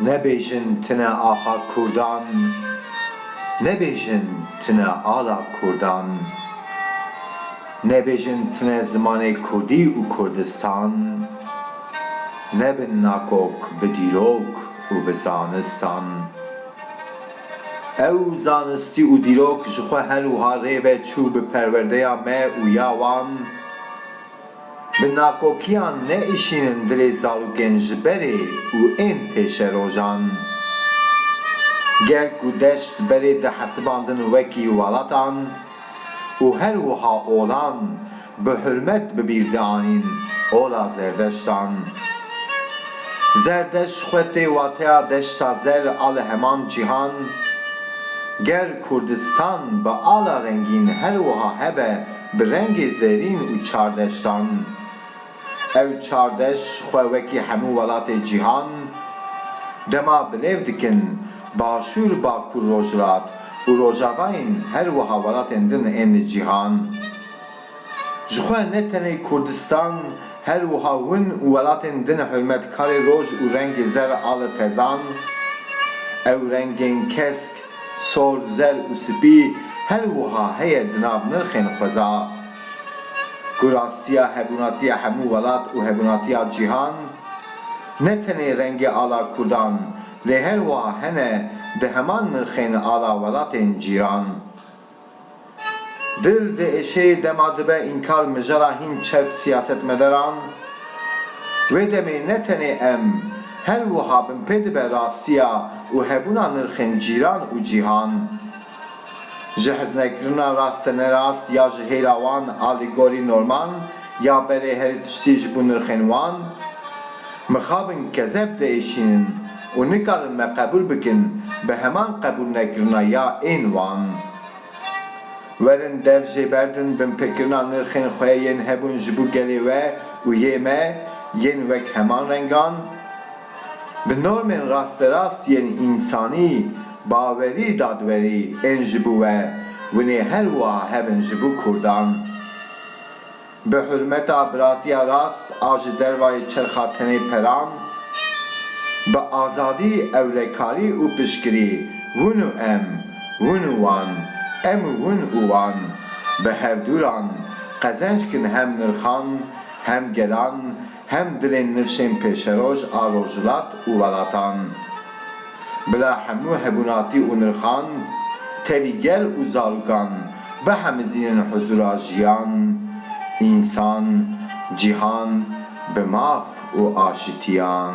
Nebêjin tune axa Kurdan Nebêjin tune ala Kurdan Nebêjin tune zimanê Kurdî û Kurdistan Nebin nakok bi dîrok û bi zanistan. Ew zanistî û dîrok ji xwe hel wiha rê ve çû bi perwerdeya me û ya wan bi nakokiyan neişînin dilê zarokên ji berê û ên pêşerojan. Gel ku deşt berê dihesibandin wekî welatan û her wiha olan, Bi hurmet bi bîr dianîn ola zerdeştan. Zerdeşt xwe tê wateya deşta zer a li heman cîhan. Ger Kurdistan bi ala rengîn her wiha hebe bi rengê zerîn û çar deştan. Ew çar deş xwe wekî hemû welatê cîhan dema bilêv dikin Başûr, Bakur, Rojhilat û Rojavayên her wiha welatên din ên li cîhan. Ji xwe ne tenê Kurdistan her wiha hûn û welatên din hurmetkarê roj û rengê zer a li fezan, ew rengên kesk, sor, zer û spî her wiha heye di nav nirxên xweza. Ku rastiya hebûnatiya hemû welat û hebûnatiya cîhan, ne tenê rengê ala Kurdan lê her wiha hene di heman nirxên ala welatên cîran. Dil diêşê dema dibe înkar mijara hîn çet siyasetmedaran. Wê demê ne tenê em, her wiha bin pê dibe rastiya û hebûna nirxên cîran û cîhan. Ji heznekrina rastenerast ya ji hêla wan a li gorî norman ya berê herî tiştî ji bo nirxên wan, mixabin kezeb diêşînin. Û nikarin me qebûl bikin bi heman qebûlnekirina ya ên wan. Werin dev jê berdin binpêkirina nirxên xwe yên hebûn ji bo gelê we û yê me yên wek heman rengan, bi normên rasterast yên însanî, bawerî, dadwerî ên ji bo we, winê her wiha hebin ji bo Kurdan. Bi hurmeta biratiya rast a ji dervayê çerxa tenê peran, bi azadî, ewlekarî û piştgirî, hûn û em, hûn û wan, em û hûn û wan, bi hevdûran, qezenc kin hem nirxan, hem gelan, Hem dilên nirşên pêşeroj a rojhilat û welatan, bila hemû hebûnatî û nirxan, tevî gel û zarûkan bihemizînin huzûra jiyan, însan, cîhan bi maf û aşitiyan.